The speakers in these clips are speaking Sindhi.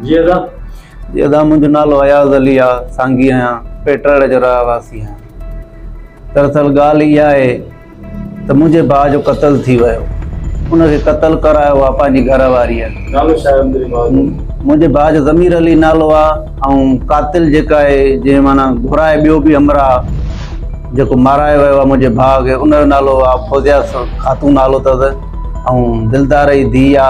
جي ادا جي ادا منهنجو نالو اياز علي آ سانگي آهيان پيٽرڙ جو رهواسي آهيان دراصل ڳالهه اها آهي ته منهنجي ڀاء جو قتل ٿي ويو ان کي قتل ڪرايو آ پنهنجي گهر واريء نالو ڇا آهي تنهنجي ڀاء جو منهنجي ڀاء جو ضمير علي نالو آ ۽ قاتل جيڪا آهي جنهن معنيٰ گهرائي ٻيو به همراهه جيڪو مارايو ويو آ منهنجي ڀاء کي ان جو نالو آ فوزيا خاتون نالو اٿس ۽ دلدار جي ڌيء آ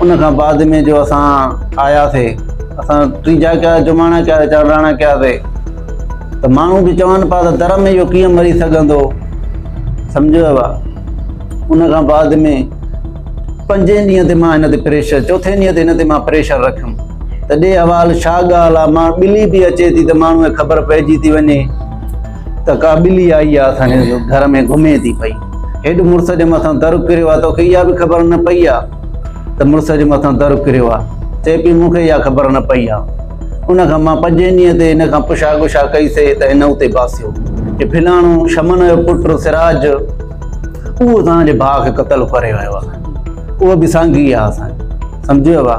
ان کان بعد ۾ جو اسان آيا سي اسان ٽي جا ڪيا جماڻا ڪيا سي چانڊراڻا ڪيا سي ته ماڻهو به چون پيا ته در ۾ اهو ڪيئن مري سگهندو سمجهيو وا ان کان بعد ۾ پنجين ڏينهن تي مان هن تي پريشر چوٿين ڏينهن تي هن تي مان پريشر رکيم ته ڏي حوال ڇا ڳالهه مان ٻلي به اچي ٿي ته ماڻهو کي خبر پئجي ٿي وڃي ته ڪا ٻلي آئي آ اسان جي گهر ۾ گهمي ٿي پئي. هيڊ مڙس جي مٿان در ڪريو آ توکي اها به خبر نه پئي آ ته مڙس جي مٿان در ڪريو آ. چئي پئي مون کي اها خبر نه پئي آ. ان کان مان پنجين ڏينهن تي هن کان پڇا ڳڇا ڪئي سي ته هن اتي باسيو. هي ڦلاڻو شمن جو پٽ سراج اهو توهان جي ڀاء کي قتل ڪري ويو آ. اهو به سانگي آ اسان جو. سمجهيو آ.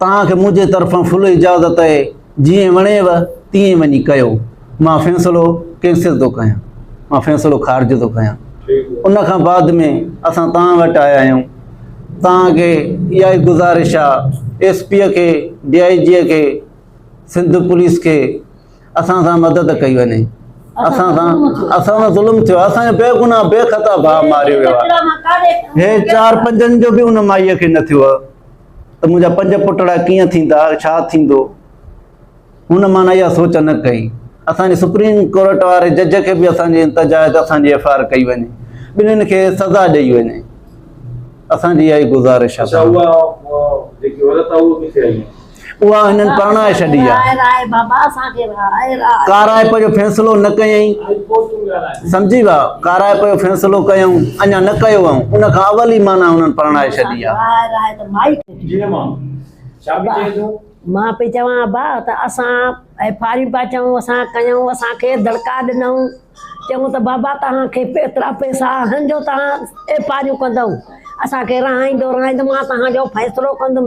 توهان کي منهنجي طرفان فل اجازت اهي، جيئن وڻيو تيئن وڃي ڪيو. مان فيصلو ڪينسل ٿو ڪيان. مان فيصلو خارج ٿو ڪيان. ان کان بعد ۾ اسان توهان وٽ آيا آهيون. توهان کي اها ئي گذارش آ، ايس پيء کي، ڊي آء جيء کي، سنڌ پوليس کي اسان سان مدد ڪئي وڃي. اسان سان اسان سان ظلم ٿيو آ. اسان جو بي گناهه بي خطا ڀاء ماريو ويو آ. هي چار پنجن جو به ان مائيء کي نه ٿيو آ. ته منهنجا پنج پٽڙا ڪيئن ٿيندا، ڇا ٿيندو؟ هن مان اها سوچ نه ڪئي. اسان جي سپريم ڪورٽ واري جج کي به اسان جي انتظار آهي ته اسان جي ايف آء آر ڪئي وڃي، ٻنهين کي سزا ڏئي وڃي. اسان جي اها ئي گذارش آهي. اها هنن پرڻائي ڇڏي آهي. ڪارائپ جو فيصلو نه ڪيائين. سمجهي ويا، ڪارائپ جو فيصلو ڪيائون، اڃا نه ڪيو هئائون، ان کان اول ئي معنيٰ هنن پرڻائي ڇڏي آهي. جيئن مان، ڇا پئي چوين تون؟ مان پئي چوان ابا ته اسان ڦاريون پيا چئون، اسان ڪيائون، اسان کيس دڙڪا ڏنائون، چيائون ته بابا توهان کي ايترا پئسا آهن جو توهان ڦاريون ڪندؤ، اسان کي رهائيندؤ، رهائيندؤ، مان توهان جو فيصلو ڪندم.